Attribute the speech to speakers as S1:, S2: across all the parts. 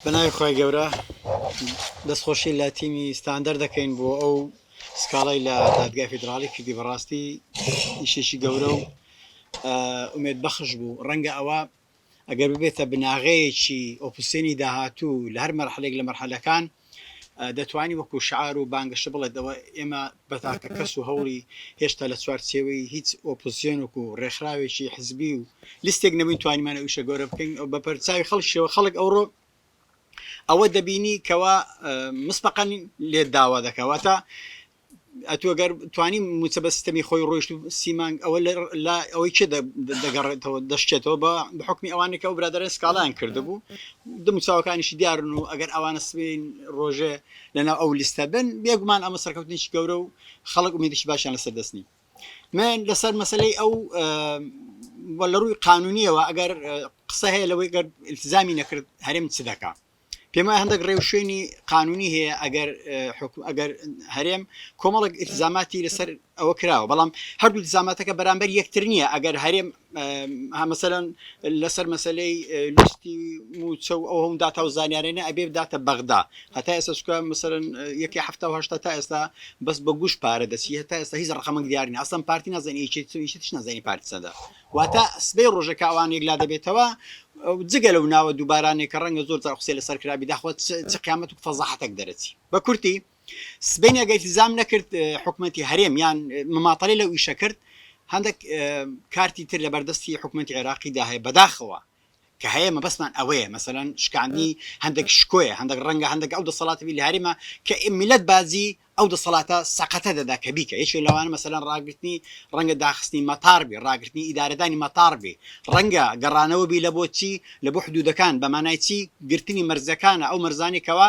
S1: بەناوی خوای گەورە دەست خۆشی لە تیمی ستاندەر دەکەین بۆ ئەو سکاڵای لە دادگای فیدراڵی کردی بەڕاستی ئیشێکی گەورە و ئومێد بەخش بوو ڕەنگە ئەوە ئەگەر ببێتە بناغەیەکی ئۆپسێنی داهاتوو لە هەر مەرحلێک لە مەرحلەکان دەتوانی وەکو شعار و بانگەشە بڵێت ئەوە ئێمە بە تاکە کەس و هەوڵی هێشتا لە چوارچێوەی هیچ ئۆپۆزسیۆنێک و ڕێکخراوێکی حزبی و لیستێک نەبووین توانیمان ئەو ئیشە گەورە بکەین و بە پەرچاوی خەڵکیشەوە خەڵک ئەوڕۆ ئەوە دەبینی کەوا مسبقەن لێت داوا دەکا واتە ئەتووە گەر توانی موچە بە سیستەمی خۆی ڕۆیشت و سیمانگ ئەوە لە ئەوەی چێ دەگەڕێتەوە دەشتێتەوە بە بحکمی ئەوانی کە ئەو برادرە سکاڵیان کردبوو دم چاوەکانیشی دیارن و ئەگەر ئەوانە سبین ڕۆژێ لەناو ئەو لیستە بن بێگومان ئەمە سەرکەوتنێکی گەورە و خەڵک ئومێدێکی باشیان لەسەر دەست نی من لەسەر مەسلەی ئەو لە ڕووی قانونیەوە ئەگەر قسە هەیە لەوەی گەر التزامی نەکرد هەرێم چ دەکە پێما هەندێک ڕێو شوێنی قانونی هەیە ئەگەر ئەگەر هەرێم کۆمەڵک التزاماتی لەسەر ئەوە کراوە بەڵام هەردوو دزاماتەکە بەرامبەر یەکتر نییە ئەگەر هەرێم هەمەسەرەن لەسەر مەسلەی لیستی موچە و ئەو هەم داتا و زانیارێنە ئەبێ داتە بەغدا هەتا ئێستا چکە مەسەرەن یەکی هەفتا هشتا تا ئێستا بەس بە گوش پارە دەچی هەتا ئێستا هیچ ڕقەمەک دیارین ئەسم پارتی نازانیش نازانی پارتی سەدا واتە سبەی ڕۆژەکە ئەوان یەکلا دەبێتەوە جگە لەو ناوە دووبارانێک کە ڕەنگە زۆر قسە لەسەر کرابی داخوات چ قیامەت و فەزاحەتەک دەرەچی بە کورتی سبەینێ ئەگەر التزام نەکرد حکومەتی هەرێم یان مماطلەی لەو ئیشە کرد هەندێک کارتی تر لەبەردەستی حکومەتی عێراقی دا هەیە بەداخەوە کە هەیە مەبەستمان ئەوەیە مەسەلەن شکاندنی هەندێک شکۆیە هەندێک ڕەنگە هەندێک ئەو دەسەڵاتی بی لە هەرێمە کە میلەت بازی ئەو دەسەڵاتە سەقەتە دەدا کە بیکە یەکێ لەوانە مەسەلەن ڕاگرتنی ڕەنگە داخستنی مەتار بی ڕاگرتنی ئیدارەدانی مەتار بی ڕەنگە گەڕانەوە بی لە بۆ چی لە بۆ حدوودەکان بە مانای چی گرتنی مەرزەکانە ئەو مەرزانی کەوا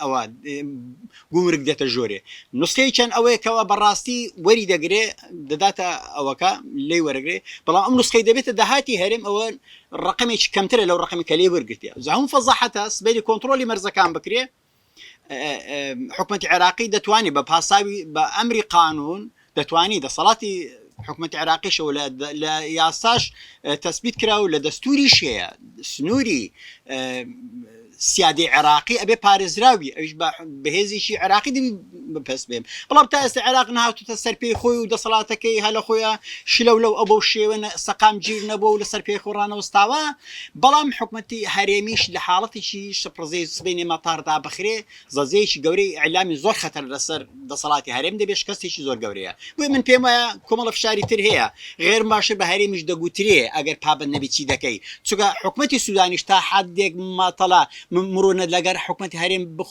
S1: ئەوا گومرگ دێتە ژۆرێ نوسخەی چەند ئەوەیە کەوا بەڕاستی وەری دەگرێ دەداتە ئەوەکە لێی وەرەگرێ بەڵام ئەم نوسخەی دەبێتە داهاتی هەرێم ئەوە ڕقمێکی کەمترە لەو ڕقمی کە لێ وەرگرتیە زەهوم فەزەحەتە سبەری کۆنتترۆلی مەرزەکان بکرێ حکومەتی عێراقی دەتوانێت بە پاساوی بە ئەمری قانون و دەتوانی دەسەڵاتی حکومەتی عێراقیشەوە لە یاساش تەسبیت کرا و لە دەستوریش هەیە سنووری سیادی عێراقی ئەبێ پارێزراوی ئەوش بەهێزیی عراقی دەبی بەپەس بێم بەڵام تا ئێستا عێراق نهاتوتە سەر پێی خۆی و دەسەڵاتەکەی هەلە خۆیان شلەو لەو ئەو بەو شێوە سەقام گیر نەبوو و لەسەر پێی خۆڕانەوەستاوە بەڵام حکومەتی هەرێمیش لە حاڵەتیی شپڕزەی سبینێ مەتاردا بخرێ زەزیەیەکی گەورەی ئیعلامی زۆر خەتەر لەسەر دەسەڵاتی هەرێم دەبێت شکەستێکی زۆر گەورەیە بۆیە من پێم وایە کۆمەڵە فشاری تر هەیە غێرم باشە بە هەرێمیش دەگوترێ ئەگەر پابەند نەبی چی دەکەی چونکە حکومەتی سودانیش تا حدێک ماتەڵە مرۆنە لەگەر حکومەتی هەرێم بخ...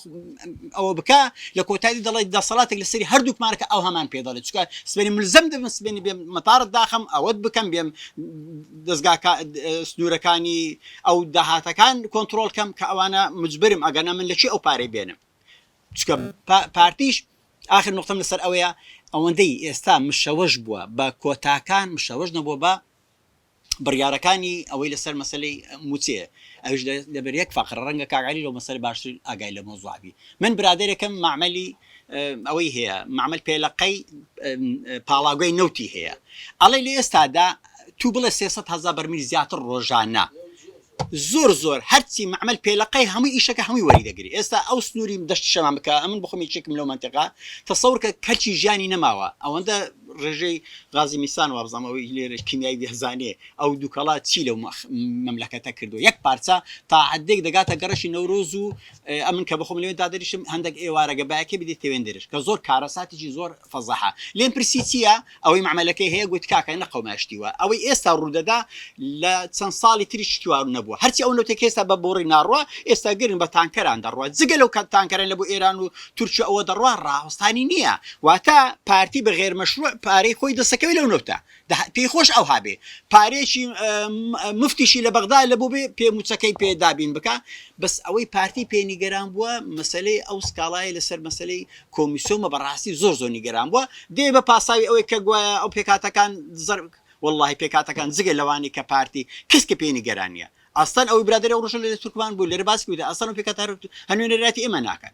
S1: ئەوە بکە لە کۆتایی دەڵێت دەسەڵاتێک لەسەری هەردووکمانەکە ئەو هەمان پێ دەڵێت چکە سبێنی ملزەم دەبم سبێنی بێم مەتاڕت داخم ئەوەت بکەم بێم دەستگا سنوورەکانی ئەو داهاتەکان کۆنترۆل کەم کە ئەوانە مجبرم ئەگەنا من لە چی ئەو پارەی بێنم چکە پارتیش آخر نقطەم لەسەر ئەوەیە ئەوەندەی ئێستا مشەوەش بووە بە کۆتاکان مشەوەش نەبووە بە بڕیارەکانی ئەوەی لەسەر مەسلەی موچێ ئەوش لەبەر یەک فقر ڕەنگە کاگعلی لەو مەسەر باشتر ئاگای لە مۆزوعبی من برادێکم معملی ئەوەی هەیە مەعمەل پێلەقەی پاڵاوگەی نەوتی هەیە ئەڵێ لە ئێستادا تو بڵێ سێ سەد هەزار بەرمیل زیاتر ڕۆژانە زۆر زۆر هەرچی مەعمەل پێلەقەی هەموو ئیشەکە هەمووی وەری دەگری ئێستا ئەو سنووری دەشت شەمان بکە ئەمن بخۆم یەکێکم لەو منتیقا تەسەور کە کەچی ژیانی نەماوە ئەوەندە ڕێژەی غازی میسان وابزانم ئەوەی لێرە کیمیایی بێزانێ ئەو دووکەڵە چی لەو مەملەکەتە کردو یەک پارچە تا حدێک دەگاتە گەڕەکی نەورۆز و ئەمن کە بخۆم لەوێن دا دەریشم هەندەک ئێوارەگە بایەکەی بدی تەوێن دەرێش کە زۆر کارەساتیجی زۆر فەزەحە لێم پرسی چییە ئەوەی مەعمەلەکەی هەیە گوت کاکە نە قەوما شتی وا ئەوەی ئێستا ڕوودەدا لە چەند ساڵی تریش شتی وا نەبووە هەرچی ئەو نەوتەی کە ئێستا بە بۆڕی ناڕوا ئێستا گرن بە تانکەران دەڕوا جگە لەو کە تانکەرەن لە بۆ ئێران و تورکیا و ئەوە دەڕوا ڕاوەستانی نییە واتە پارتی بە غێر مەشرووع پارەی
S2: خۆی دەسەکەوێ لەو نەوتە دە پێی خۆش ئەوها بێ پارەیەکی مفتیشی لە بەغدا لە بۆ بێ پێ موچەکەی پێ دابین بکە بەس ئەوەی پارتی پێ نیگەران بووە مەسلەی ئەو سکاڵای لەسەر مەسلەی کۆمیسۆمە بەڕاستی زۆر زۆر نیگەران بووە دێ بە پاساوی ئەوەی کە گوایە ئەو پێکاتەکان زەر واللهی پێکاتەکان جگە لەوانی کە پارتی کەس کە پێی نیگەرانە ئەستان ئەوی برادری ئەو ڕژە لە تورکمان بوو لەرە باس بوویدا ئەستان و پێکات هەنوێنەراتی ئێمە ناکەن